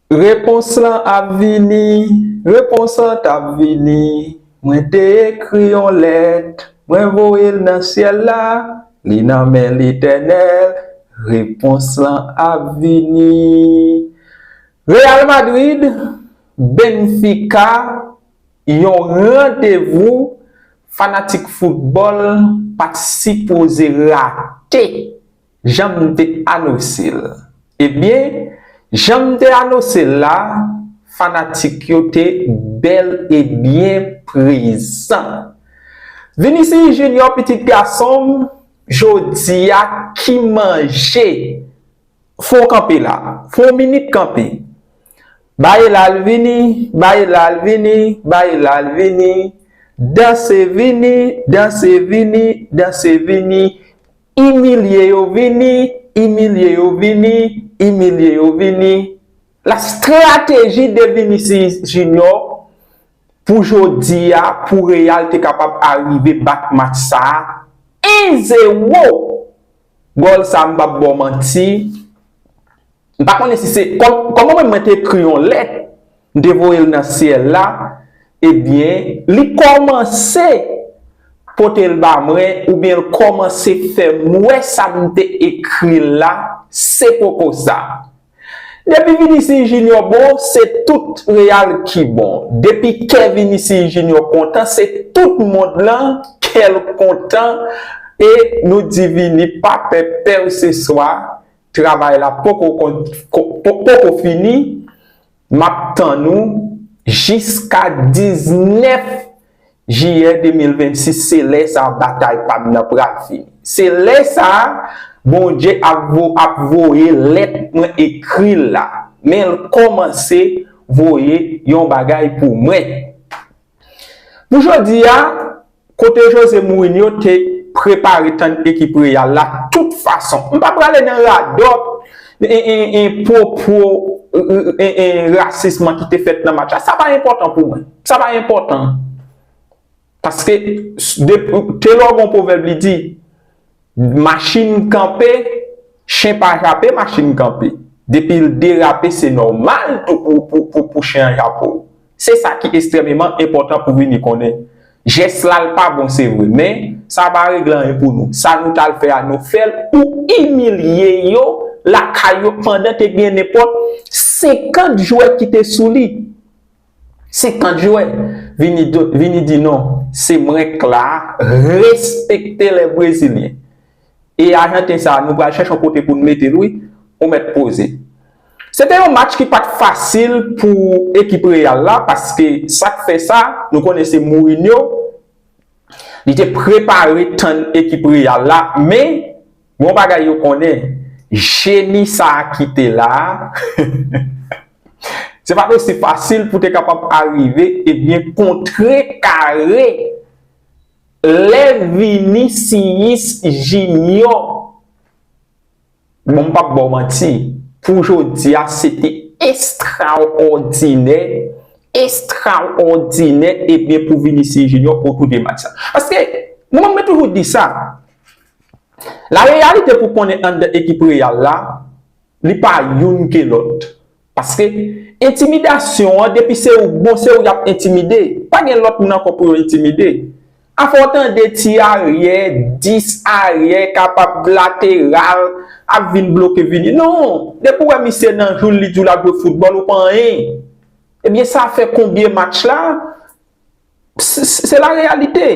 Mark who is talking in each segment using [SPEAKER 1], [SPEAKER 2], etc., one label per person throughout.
[SPEAKER 1] Repons lan ap vini, repons lan t ap vini, Mwen te ekri yon lèt, mwen voye l nan syèl la, Li nan men Letènèl, repons lan ap vini. Real Madrid, Benfica, Yon randevou fanatik foutbòl pa t sipoze rate. Janm te anose l. Ebyen, janm te anose l la, fanatik yo te bèl e byen prezan. Vinicius Junior pitit gason m, jodi a ki manje? Fè w kanpe la. Fè yon minit kanpe. Bay la l vini, bay la l vini, bay la l vini. Danse vini, danse vini, danse vini. Imilye yo vini, imilye yo vini, imilye yo vini. La strateji de Vinicius Junior pou jodi a pou Real te kapab arive bat match sa 1 zero gòl sa m pap baw manti. M pa konnen si se Kòman menm mwen te ekri yon lèt m te voye l nan syèl la Ebyen li kòmanse pote l ba mwen oubyen l kòmanse fè m wè sa m te ekri l la se poko sa Depi Vinicius Junior bon se tout Real ki bon Depi kè Vinicius Junior kontan se tout mond lan kè l kontan e nou di Vini pa pè pèseswa Travay la poko fini map tann ou jiska 19 jiyè 2026 se lè sa batay pam nan pral fini se lè sa Bondye ap voye lèt mwen ekri la menl kòmanse voye yon bagay pou mwen. Pou jodi a, kote Jose Mourinho te prepare tann ekip Real la tout fason. M pa prale nan radòt e pwopo e rasisman ki te fèt nan match la. Sa pa enpòtan pou mwen. Sa pa enpòtan. Paske te lò gon pwovèb li di, machin kanpe, chen pa jape, machin kanpe. Depi l derape se nòmal pou chen an jape w. Se sa ki estrèmeman enpòtan pou vini konnen. Jès la l pa bon se vre, men, sa pa regle anyen pou nou. Sa nou t al fè a nou fè l pou imilye yo lakay yo pandan te gen nenpòt 50 jwè ki te sou li. 50 jwè! Vini di non, se mwen k la a, respekte lè brezilyen. E Ajanten sa nou pral chèche yon kote pou nou mete l wi, ou mèt poze. Se te yon match ki pa t fasil pou ekip Real la paske sa k fè sa, nou konnen se Mourinho, li te prepare tann ekip Real la men gen yon bagay yo konnen, jeni sa a ki te la a, se pa t osi fasil pou te kapab arive ebyen kontrekare Lè Vinicius Junior bon m pap ba w manti pou jodi a se te estraòdinè, estraòdinè ebyen pou Vinicius Junior otou de match sa. Paske mwen menm mwen toujou di sa, la reyalite pou konnen anndan ekip Real la li pa youn ke lòt. Paske entimidasyon an depi se ou k bon se ou y ap entimide, pa gen lòt moun ankò pou yo entimide. Afè w tande ti aryè, dis aryè kapab lateral ap vin bloke vini. Non! Depi ou wè misye nan jou l li di w l ap jwe foutbòl ou pa anyen. Ebyen sa fè konbyen match la, se la reyalite.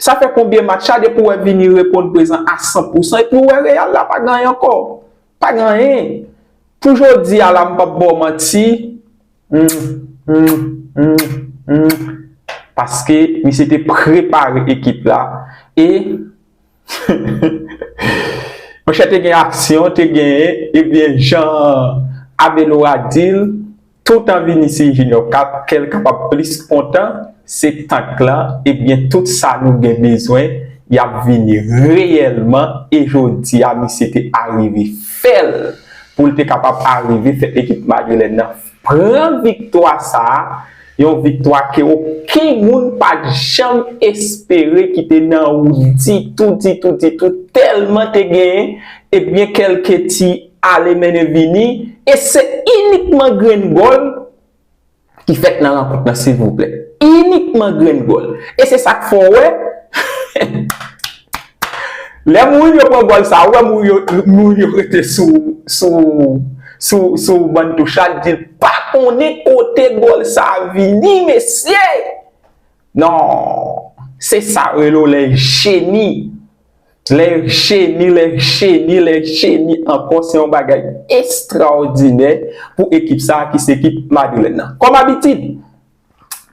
[SPEAKER 1] Sa fè konbyen match la depi w wè vini reponn prezan a 100 pousan epi ou wè Real la pa gen anyen ankò. Pa gen anyen. Pou jodi a la m pap ba w manti Humm humm humm humm paske misye te prepare ekip la e Heheheh monchè te gen aksyon te gen ebyen jan Abelora di l. Toutan Vinicius Junior ka kè l kapab plis kontan, se tank lan ebyen tout sa nou gen bezwen y ap vini reyèlman e jodi a misye te arive fè l pou l te kapab arive fè ekip Madrilèn nan pran viktwa sa a, yon viktwa ke oken moun pa t janm espere ki te nan wout ditou ditou ditou tèlman te gen ebyen kèlke ti. ale mennen vini e se inikman grenn gòl ki fèt nan rankont lan silvouplè inikman grenn gòl e se sak fè w wè lè mourin yo pran gòl sa ou wè mourin yo rete sou sou sou ban touch la di l pa konnen kote gòl sa vini mesye nan se sa rele w lè jeni. Lè Cheni, lè Cheni, lè Cheni ankò se yon bagay estrawòdinè pou ekip sa a ki se ekip Madrilèn nan. Kòm abitid,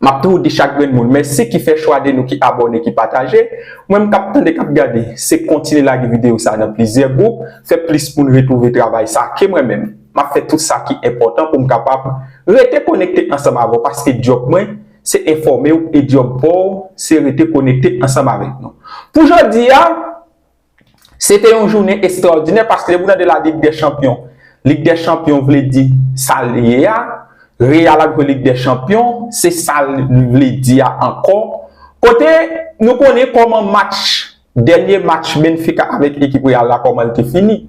[SPEAKER 1] m ap toujou di chak grenn moun mèsi ki fè chwa de nou ki abòne, ki pataje. Ou menm k ap tande, k ap gade, se kontinye lage videyo sa a nan plizyè gwoup, fè plis moun retwouve travay sa a ke mwen menm m ap fè tout sa ki enpòtan pou m kapab rete konekte ansanm avè w paske djòb mwen, se enfòme w e djòb pa w se rete konekte ansanm avèk nou. Pou jodi a, se te yon jounen estrawòdinè paske lè pou w tande la Lig dè Chanpyon, Lig dè Chanpyon vle di sa l ye a, Real ap jwe Lig dè Chanpyon, se sa l vle di a ankò. Kote nou konnen kòman match, dènye match Benfica avèk ekip Real la kòman l te fini.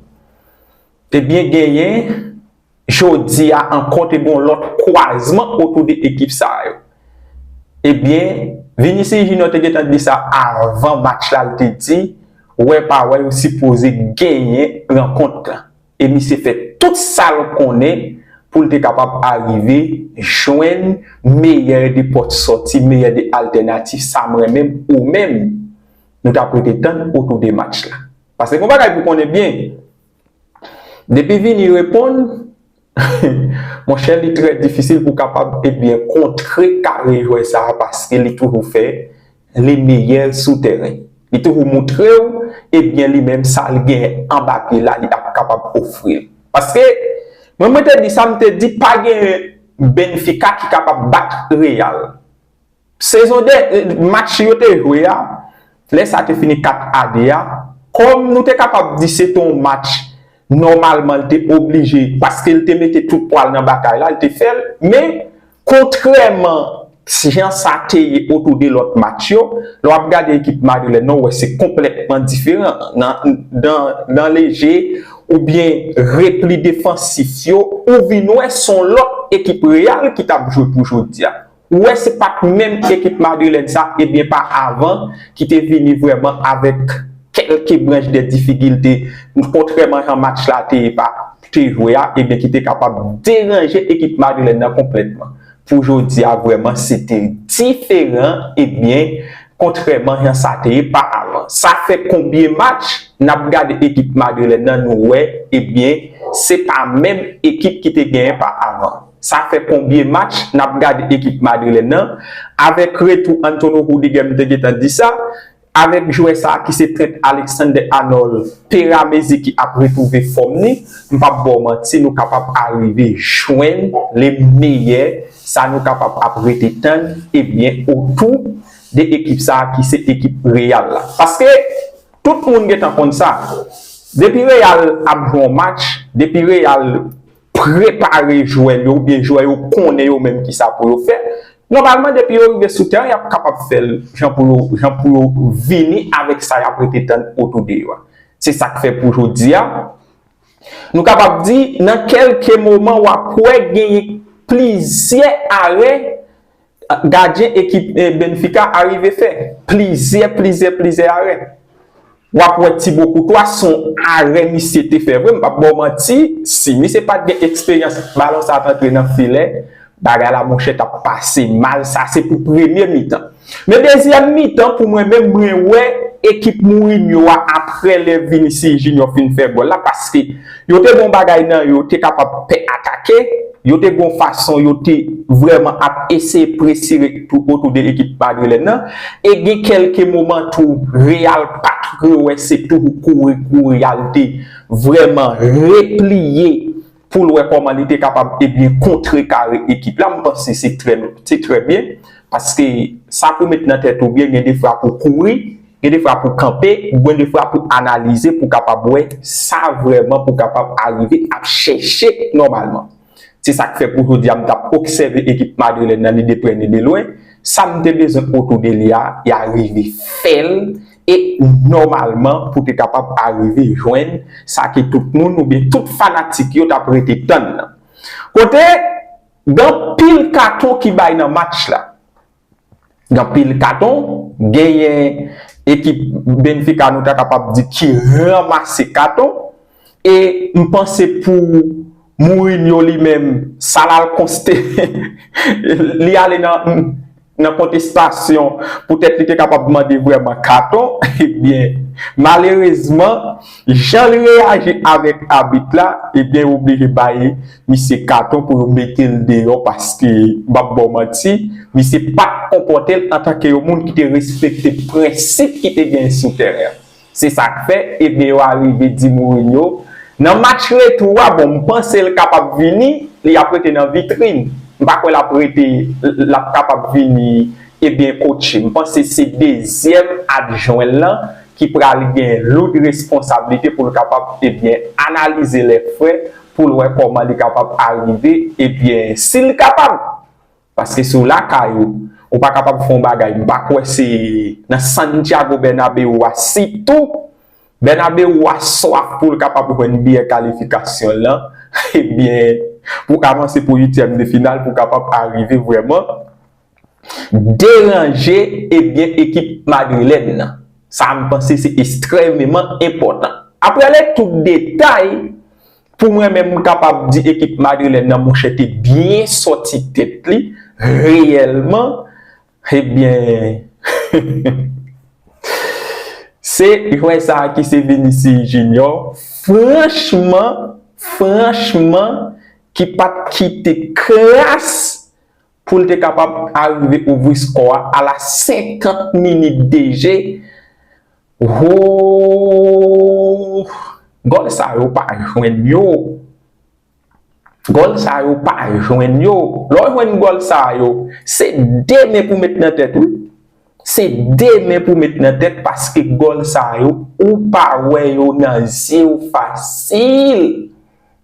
[SPEAKER 1] Ebyen genyen jodi a ankò te gen yon lòt kwazman otou 2 ekip sa yo. Ebyen, Vinicius Junior te gentan di sa avan match la, li te di, wè pa wè yo sipoze genyen rankont la. E misye fè tout sa l konnen pou l te kapab arive jwenn meyè de pòt sòti, meyè de altènatif, sa m renmen m, ou menm, nou t ap rete tann otou 2 match la. Paske gen yon bagay pou konnen byen, Depi vini reponn, monchè li trè difisil pou kapab ebyen kontre kare jwè sa a paske li toujou fè le meyè sou tèren. Li toujou moutre w ebyen li menm sa li gen anba pye la li ap kapab ofri l. Paske mwen mwen te di sa m te di pa gen Benfica ki kapab bat Real. Sezon dè, match yo te jwe a, lè sa te fini 4 a 2 a, kòm nou te kapab di se te yon match nòmalman l te oblije, paske l te mete tout pwa l nan batay la, l te fè l, men, kontrèman jan sa te ye otou de lòt match yo, lè w ap gade ekip madrilèn nan, w wè se konplètman diferan nan, nan, nan le je oubyen repli defansif yo, ou vin wè s on lòt ekip Real ki t ap jwe pou jodi a. Ou wè se pat menm ekip Madrilèn sa ebyen pa avan ki te vini vrèman avèk kèlke branch de difigilte kontrèman jan match la te pa te jwe a ebyen ki te kapab deranje ekip Madrilèn nan konplètman pou jodi a vrèman se te diferan ebyen kontrèman jan sa te ye pa avan sa fè konbyen match nap gade ekip Madrilèn nan nou wè ebyen se pa menm ekip ki te genyen pa avan. Sa fè konbyen match nap gad ekip madrilèn nan, avèk retou Antonio Rudiger m te gentan di sa, avèk jwè sa ki se Trent Alexander-Arnold peramezi ki ap retwouve fòm ni, m pap baw manti nou kapab arive jwenn le meyè sa nou kapab ap rete tann ebyen otou de ekip sa ki se ekip Real la. Paske tout moun gentan konn sa, depi Real ap jwe yon match, depi Real. prepare jwè yo oubyen jwè yo konnen yo menm ki sa pou yo fè, nòmalman depi yo rive sou tèren y ap kapab fè l jan pou yo jan pou yo vini avèk sa y ap rete tann otou de yo a. Se sa k fè pou jodi a, nou kapab di nan kèlke moman w ap wè genyen plizyè arè Gadyen ekip Benfica a rive fè plizyè plizyè plizyè arè. Wap wè Thibaut Courtois son arè misye te fè vre m pap baw manti si misye pat gen eksperyans balon sa t antre nan filè bagay la monchè tap pase mal sa se pou premye mitan. Men dezyèm mitan pou mwen menm mwen wè ekip Mourinho a aprè lè Vinicius Junior fin fè gòl la paske Yo te gon bagay nan yo te kapab pè atake, yo te gon fason yo te vrèman ap eseye presire tou otou de ekip Madrilèn nan, e gen kèlke moman tou Real pa t re wè se tou pou kouri kou Real te vrèman repliye pou l wè kòman li te kapab ebyen kontrekare ekip la, m panse se trè byen paske sa pou met nan tèt ou byen gen defwa pou kouri. Gen de fwa pou kanpe, gwen de fwa pou analize pou kapab wè sa vrèman pou kapab arive ap chèche nòmalman. Se sa k fè pou jodi a m t ap obsève ekip Madrilèn nan ni de prè ni de lwen, sa m te bezwen otou de li a, ya rive fè l e nòmalman pou te kapab arive jwenn sa ke tout moun oubyen tout fanatik yo t ap rete tann nan. Kote gen anpil katon ki bay nan match la. Gen anpil katon, genyen ekip Benfica nou ta kapab di ki ranmase katon e m panse pou Mourinho li menm sa l al konste li ale nan kontestasyon poutèt li te kapab mande vrèman katon ebyen malerezman jan l reyaji avèk abit la ebyen yo oblije bay Misye katon pou yo metel deyò paske map baw manti misye pat konpòtel antanke yon moun ki te respekte prensip ki te genyen sou tèren an se sak fè ede yo arive di Mourinho nan match retou a bon mpansel kapab vini li ap rete nan vitrin mpa kwè lap rete lap kapab vini e byen kotche mpanse se dezyèm adjwenl lan ki pral gen loud responsablite poul kapab e byen analize lè frè pou l wè kòman li kapab arive e byen si l kapab paske si w lakay ou ou pa kapab fè yon bagay m pa kwè se nan Santiago Bernabeu a sitou Bernabeu a swaf pou l kapab jwenn biyè kalifikasyon l lan e byen pou avanse pou uityèm de final pou kapab arive vrèman deranje ebyen ekip madrilèn nan. Sa a m panse se estrèmeman enpòtan. Aprè lè tout detay, pou mwen menm m kapab di ekip madrilèn nan monchè te byen sòti tèt li reyèlman ebyen se jwè sa a ki se Vinicius Junior franchman franchman ki pa t kite kras pou l te kapab arive ouvri skò a a la 50 minit de je, hooh! Gòl sa yo pa jwenn yo! Gòl sa yo pa jwenn yo! Lè w jwenn gòl sa yo, se 2 men pou met nan tèt wi! Se 2 men pou met nan tèt paske gòl sa yo ou pa wè yo nan zye w fasil!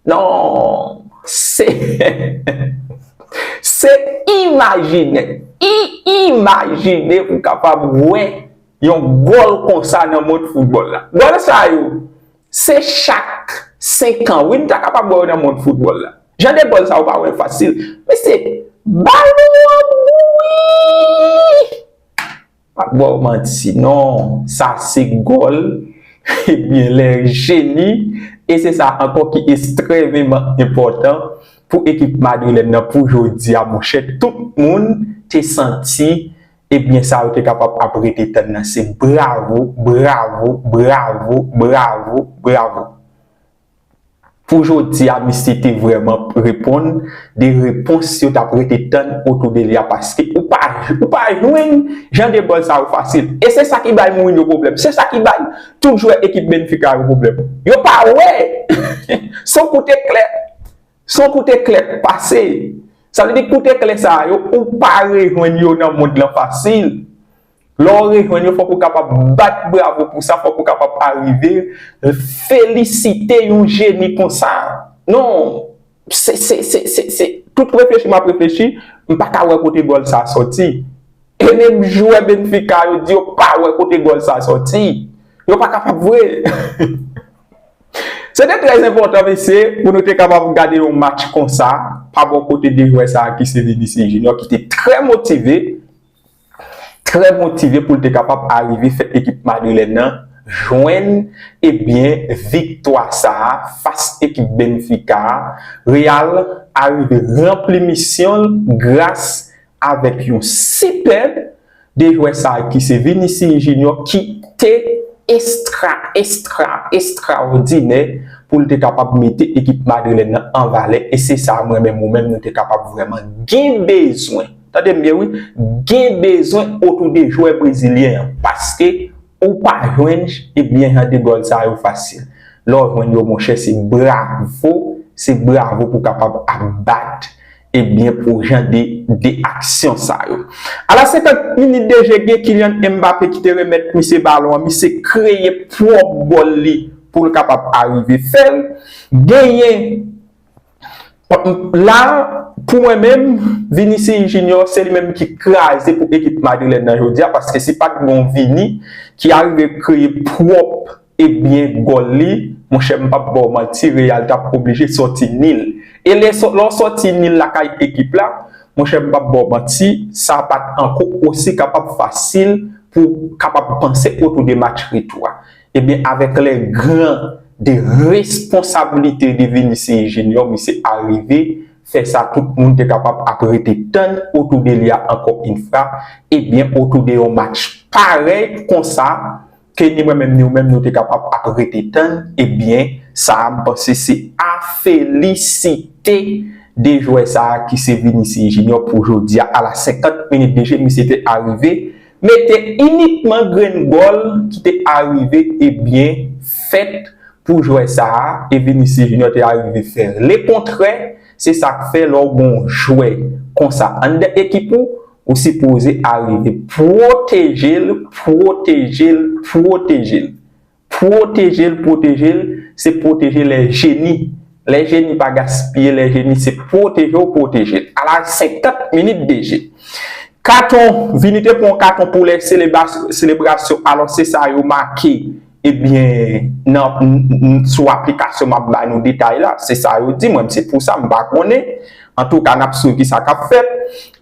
[SPEAKER 1] Non! Se Se imajine I imajine ou kapab wè yon gòl konsa nan mond foutbòl la. Gòl sa yo, se chak senkan wi n ta kapab wè yo nan mond foutbòl la. Jan de gòl sa yo ou pa wè l fasil. Mesye, balon an bouyi! Pap baw manti non sa se gòl ebyen lè jeni e se sa ankò ki estrèveman enpòtan pou ekip madrilèn nan pou jodi a monchè tout moun te santi ebyen sa yo te kapab ap rete tann nan se bravo bravo bravo bravo bravo. Pou jodi a misye te vrèman reponn de repons yo tap rete tann otou de li a paske ou pa ou pa jwenn jan de gòl sa yo fasil e se sa ki bay Mourinho pwoblèm se sa ki bay tout jwè ekip Benfica yo pwoblèm yo pa wè son kout eklè son kout eklè k pase sa vle di kout eklè sa yo ou pa rejwenn yo nan mond lan fasil. Lè w rejwenn yo, fòk ou kapab bat bravo pou sa, fòk ou kapab arive felisite yon jeni konsa. Non, se, se, se, se, se, tout reflechi m ap reflechi, m pa ka wè kote gòl sa sòti. E menm jwè Benfica yo di yo pa wè kote gòl sa sòti. Yo pa kapab vre. Se te trè enpòtan, mesye, pou nou te kapab gade yon match konsa pa bò kote 2 jwè sa ki se Vinicius Junior ki te trè motive. trè motive pou l te kapab arive fè ekip madrilèn nan jwenn ebyen viktwa sa a fas ekip Benfica a, Real arive ranpli misyon l gras avèk yon sipèb 2 jwè sa a ki se Vinicius Junior ki te estra estra estraòdinè pou l te kapab mete ekip madrilèn nan an valè e se sa a mwen menm ou menm nou te kapab vrèman gen bezwen. Tande m byen wi, gen bezwen otou de jwè brezilyen an paske ou pa jwenn jan de gòl sa yo fasil. Lè w jwenn yo monchè se bravo, se bravo pou kapab ap bat pou jan de aksyon sa yo. A la 50 minit de je gen Kylian Mbappé ki te remèt misye balon an, misye kreye pwòp gòl li pou l kapab arive fè l. Genyen. La, pou mwen menm, Vinicius Junior se li menm ki kraze pou ekip madrilèn nan jodi a paske si pat gen yon Vini ki arive kreye pwòp e byen gòl li, monchè m pap ba w manti Real t ap oblije sòti nil. E lè w sòti nil lakay ekip la, monchè m pap ba w manti, sa pat ankò osi kapab fasil pou kapab panse otou de match retou a. Ebyen avèk lè gran de responsabilite de Vénusse Junior misye arive fè sa tout moun te kapab ap rete tann otou de li a ankò yn fra ebyen otou de yon match parèy konsa ke ni mwen menm ni ou menm nou te kapab ap rete tann ebyen sa a m panse se a felisite de jwè sa a ki se Vénusse Junior pou jodia a la 50 minit de je misye te arive Mete inikman grenn gòl ki te arive e byen fèt pou jwè sa a e Vinicius Junior te arive fè le kontrè, se sa k fè lè w gon jwè konsa anndan ekip ou, ou sipoze arive pwoteje l, pwoteje l, pwoteje l. Pwoteje l pwoteje l se pwoteje lè jeni lè jeni pa gaspiye lè jeni se pwoteje w pwoteje l ala 50 minit deje katon vini te pran w katon pou lè selebrasyon alò se sa yo make ebyen nan sou aplikasyon m ap ba nou detay la se sa yo di mwen m se pou sa m pa konnen. Antouka n ap swiv ki sa k ap fèt.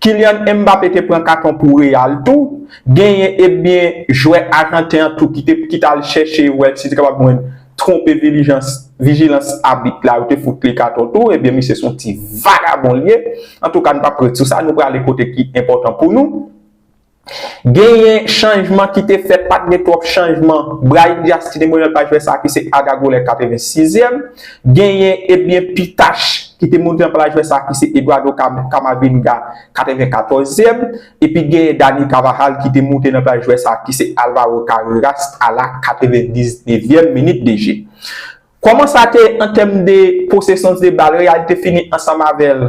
[SPEAKER 1] Kylian Mbappé te pran katon pou Real tou. Genyen ebyen jwè ajanten an tou ki te ki t al chèche wè si te kapab jwenn twonpe vilijans vijilans abit la yo te fout li katon tou. Ebyen misye se yon ti vagabon l ye. Antouka n p ap ret sou sa nou prale kote ki enpòtan pou nou. Genyen chanjman ki te fèt, pa t gen twòp chanjman. Brahim Dias ki te mounen l pa jwè sa a ki se Adagolè 86 yèm. Genyen ebyen Pitache ki te mounen l pa jwè sa a ki se Eduardo Camavinga 94 yèm. Epi genyen Dani Carvajal ki te moute nan plas jwè sa a ki se Alvaro Carreras a la 99 yèm minit de je. Kòman sa te ye an tèm de posesons de bal, Real te fini ansanm avè l?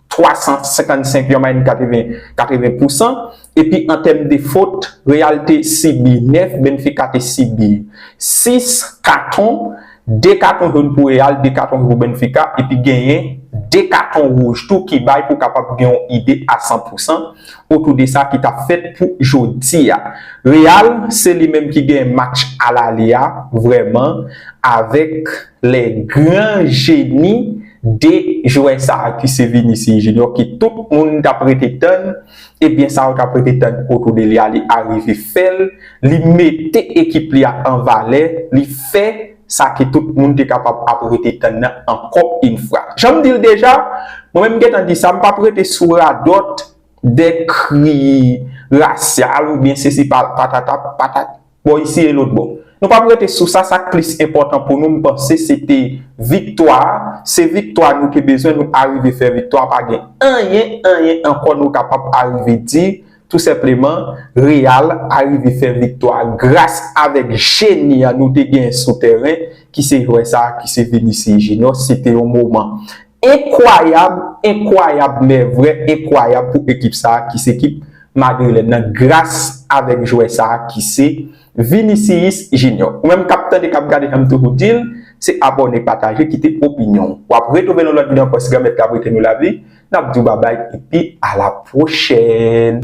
[SPEAKER 1] 355 yon mayen 80 pousan epi an tèm de fot Real te sibi 9 Benfica te sibi 6 katon 2 katon joun pou Real 2 katon pou Benfica epi genyen 2 katon wouj tou ki bay pou kapab gen yon ide a 100 pousan otou de sa ki tap fèt pou jodi a Real se li menm ki gen match alale a vrèman avèk lè gran jeni 2 jwè sa ki se Vinicius Junior ki tout moun tap rete tann ebyen sa yo tap rete tann otou de li a li arive fèl, li mete ekip li a an valè, li fè sa ke tout moun te kapab ap rete tann nan ankò yn fwa. Janm dil deja, mwen menm m gentan di sa m pap rete sou radòt de kri rasyal oubyen sesi patata patata. Bò isi e lotbò. Nou pap rete sou sa, sa k plis enpòtan pou nou m panse se te viktwa a, se viktwa nou te bezwen nou arive fè viktwa, pa gen anyen, anyen ankò nou kapab arive di, tou senpleman Real arive fè viktwa gras avèk jeni a nou te gen sou tèren ki se jwè sa ki se Vinicius Junior, se te yon moman. Enkwayab, enkwayab men vrè enkwayab pou ekip sa a ki se ekip Madrilèn nan gras avèk jwè sa a ki se Vinicius Junior. Ou menm k ap tande, k ap gade janm toujou di l, se abòne, pataje, kite opinyon w. W ap retwouve nou lòt jou nan pòs Granmèt k ap wete nou lavi. N ap di w babay epi alapwochèn!